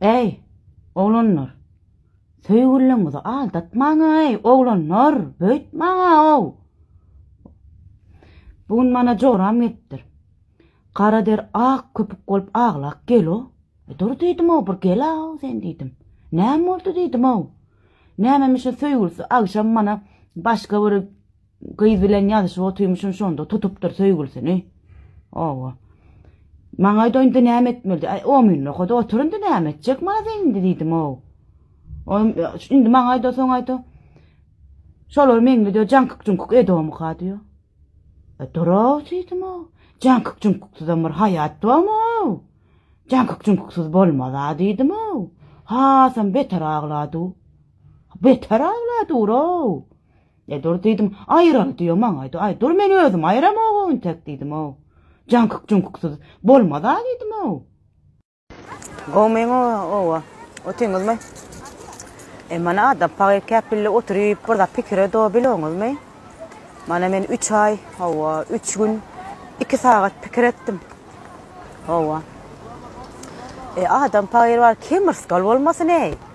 Äý, oglanlar, söýgüliňizi aldatmaň-aý, oglanlar, beýtmäň-aý-ow! Bu gün mana joram gelipdir. Gara der ak köpük bolup aglak gel-o. E, dur diýdim-ow, bir gel-aw sen diýdim. Näme boldy diýdim-ow. Nämemişin söýgülisi agşam mana başga bir Gyz bilen ýazyşyp otyrmyşyn şonda tutupdyr söýgülisini. Owa. Maňa aýda indi näme etmeli? Aý, o mün nokada otur indi näme etjek maňa sen indi diýdim ow. Oň indi maňa aýda soň aýda. Şolar meňli diýär, jaňkyk-juňkyk edomyka diýär. E duraw diýdim ow. Jaňkyk-juňkyksuzam bir haýat barmy ow? Jaňkyk-juňkyksuz bolmaz a diýdim ow. Hasam beter aglady. Beter aglady uraw. E dur diýdim, aýyraly diýýä maňaýda, aý dur men özüm aýyramog-ow intek diýdim-ow. Jaňkyk-juňkuksyz bolmaz-a diýdim-ow. Gowy meň oba, otyňyzmy? E mana adam pagyr-käp bille oturyp bir zat pikire do biloňyzmy? Mana men üç aý, hawa, üç gün, iki sagat pikir etdim. Hawa. E adam pagyr bar, kemrskal bolmasyn-eý?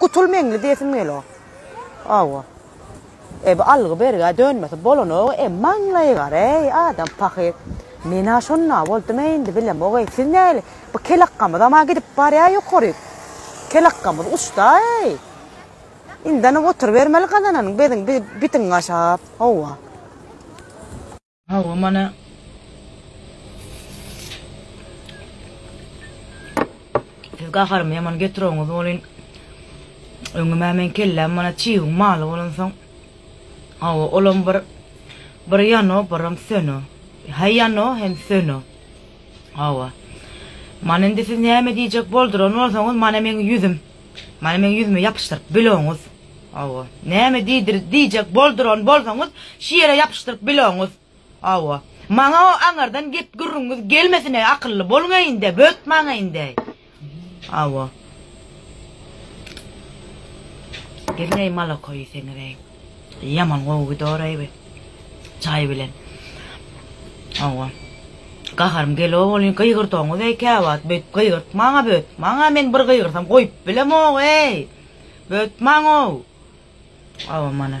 Gutul meňli diýesim gelo. Awa. E bu algy bergä dönmese bolanogy e maňlaýy gar eý adam pahyr. Menä şonda boldum eý indi bilemog eý siz näli bu kelakgamyzam a gidip barýa ýokaryk. Kelakgamyz uçda eý. Indana oturybermeli gazananyň bezin bitiň gaşap. Hawa. Hawa mana Siz gaharymy ýaman getirowňyz bolyn. Öňümä men kelläm mana çiwiň maly bolansoň. Hawa olam bir bir ýano biram söno. He ýano hem söno. Hawa. Mana indi siz näme diýjek bolduran bolsaňyz mana meň ýüzüm. Mana meň ýüzüme ýapyşdyryp biloňyz. Hawa. Näme diýdir diýjek bolduran bolsaňyz, şu ýere ýapyşdyryp biloňuz. Hawa. Maňa o aňardan gep gürrüňiňiz gelmesin-eý, akylly boluň-eý indi, bötmaň-eý indi-eý. Hawa. Gelin-eý maloko iýseňiz-eý. Ýaman gowy gidor-eý bi. Çaý bilen. Hawa. Gaharym gelo bolýn, gygyrdoňyz-eý käwagt, beýdip gygyrtmaň-a, bötmaň-a, men bir gygyrsam goýup bilemog-eý. Bötmaň-ow! Awa mana.